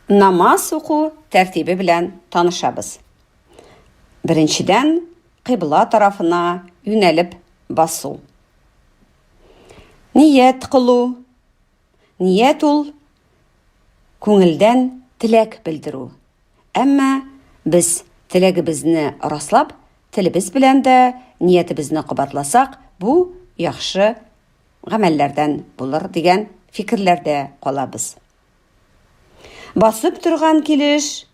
Намаз уку тәртибе белән танышабыз. Беренчедән, кыйбла тарафына юнәлеп басу. Ният кылу. Ният ул күңелдән теләк белдерү. Әмма без теләгебезне раслап, телебез белән дә ниятебезне кабатласак, бу яхшы гамәлләрдән булыр дигән фикерләрдә калабыз. Басып торган килеш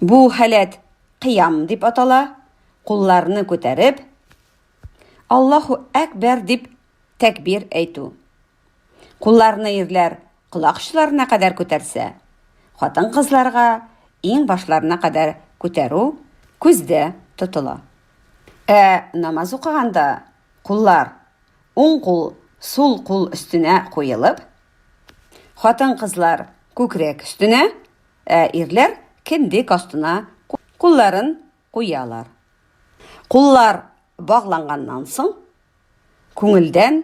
бу халәт кыям дип атала, кулларны күтәреп Аллаһу әкбәр дип тәкбир әйтү. Кулларны ирләр колак очларына кадәр күтәрсә, хатын-кызларга иң башларына кадәр күтәрү күздә тотыла. Ә намаз укыганда куллар уң кул, сул кул өстенә куелып, хатын-кызлар күкрәк өстенә, ә ирләр кендек астына кулларын куялар. Куллар багланганнан соң, күңелдән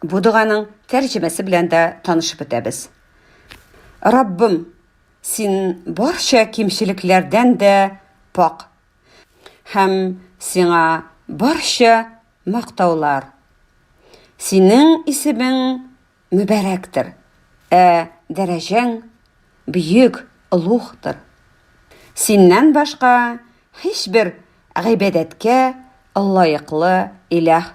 Бу доганың тәрҗемәсе белән дә танышып үтәбез. Раббым, син барча кимчелекләрдән дә пак. Һәм сиңа барча мактаулар. Синең исемең мөбәрәктер, ә дәрәҗәң бөек олугтыр. Синнән башка һичбер гыйбадәткә лаеклы илаһ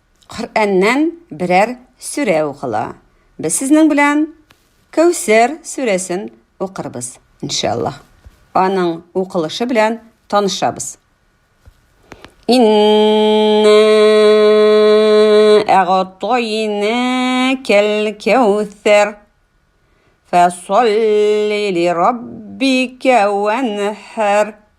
Коръәннән берәр сүрә укыла. Без сезнең белән Кәүсәр сүрәсен укырбыз, иншаллаһ. Аның укылышы белән танышабыз. Инна әгътайнакәл кәүсәр. Фасолли лираббика ванхар.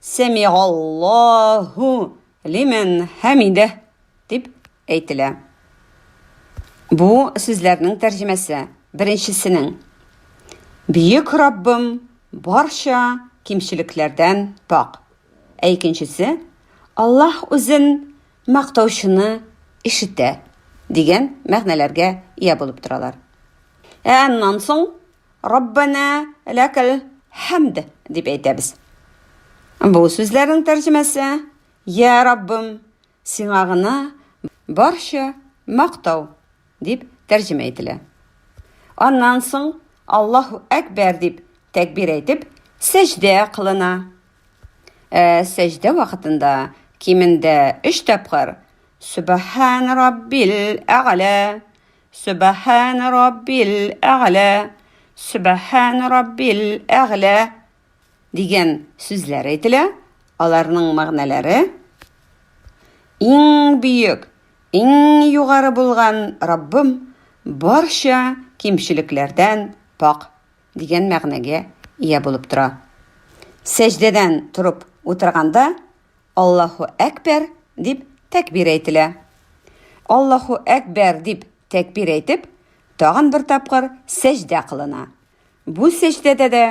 Сәмигаллаһу лимән хәмидәһ дип әйтелә. Бу сүзләрнең тәрҗемәсе беренчесенең Бөек Раббым барча кимчелекләрдән пакь, ә икенчесе Аллаһ үзен мактаучыны ишетә дигән мәгънәләргә ия булып торалар. Ә аннан соң Раббана ләкәл хәмд дип әйтәбез. Бу сүзләрнең тәрҗемәсе Я Раббым, сиңа гына барча мактау дип тәрҗемә ителә. Аннан соң Аллаһу әкбәр дип тәкбир әйтеп, сәҗдә кылына. Ә сәҗдә вакытында кимендә өч тапкыр Субхан Раббил әгълә Сөбәхәнә раббил әгълә, Сөбәхәнә раббил әгълә дигән сүзләр әйтелә, аларның мәгънәләре, Иң бөек, иң югары булган Раббым барча кимчелекләрдән пакь дигән мәгънәгә ия булып тора. Сәҗдәдән торып утырганда, Аллаһу әкбәр! дип тәкбир әйтелә. Аллаһу әкбәр! дип тәкбир әйтеп, тагын бер тапкыр сәҗдә кылына. Бу сәҗдәдә дә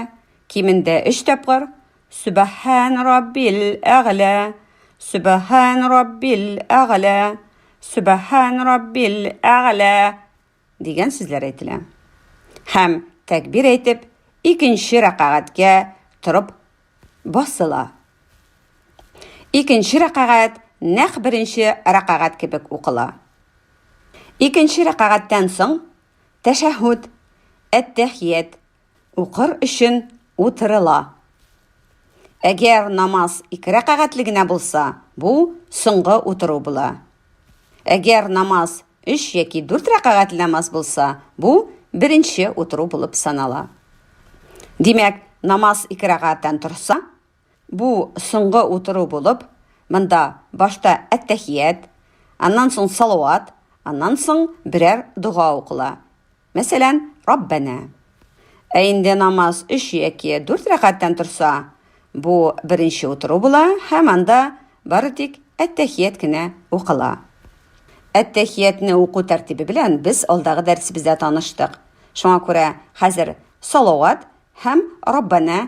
кимендә өч тапкыр Сүбәһән Раббил әгълә, Сүбәһән Раббил әгълә, Сүбәһән Раббил әгълә Дигән сүзләр әйтелә. Һәм, тәкбир әйтеп, икенче рәкагатькә торып басыла. Икенче рәкагать нәкъ беренче рәкагать кебек укыла. Икенче рәкагатьтән соң тәшәһүд, әттәхият, Укыр өчен утырыла. Әгәр намаз ике рәкәгатьле генә булса, бу соңгы утыру була. Әгәр намаз өч яки дүрт рәкәгатьле намаз булса, бу беренче утыру булып санала. Димәк, намаз ике рәкәгатьтән торса, Бу соңгы утыру булып, монда башта әттәхият, аннан соң салават, аннан соң берәр дога укыла. Мәсәлән, Раббәнә. Ә инде намаз өч яки дүрт рәкәттән торса, бу беренче утыру була һәм анда бары тик әттәхият кенә укыла. Әттәхиятне уку тәртибе белән без алдагы дәресебездә таныштык. Шуңа күрә хәзер салават һәм Раббәнә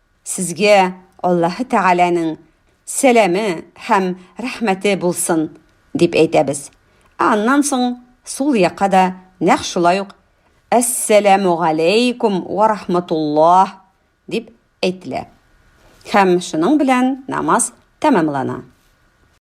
Сезгә Аллаһы Тәгаләнең сәламе һәм рәхмәте булсын, дип әйтәбез. Ә аннан соң сул якка да нәкъ шулай ук Әссәламүгаләйкүм вә рахматуллаһ! дип әйтелә. Һәм шуның белән намаз тәмамлана.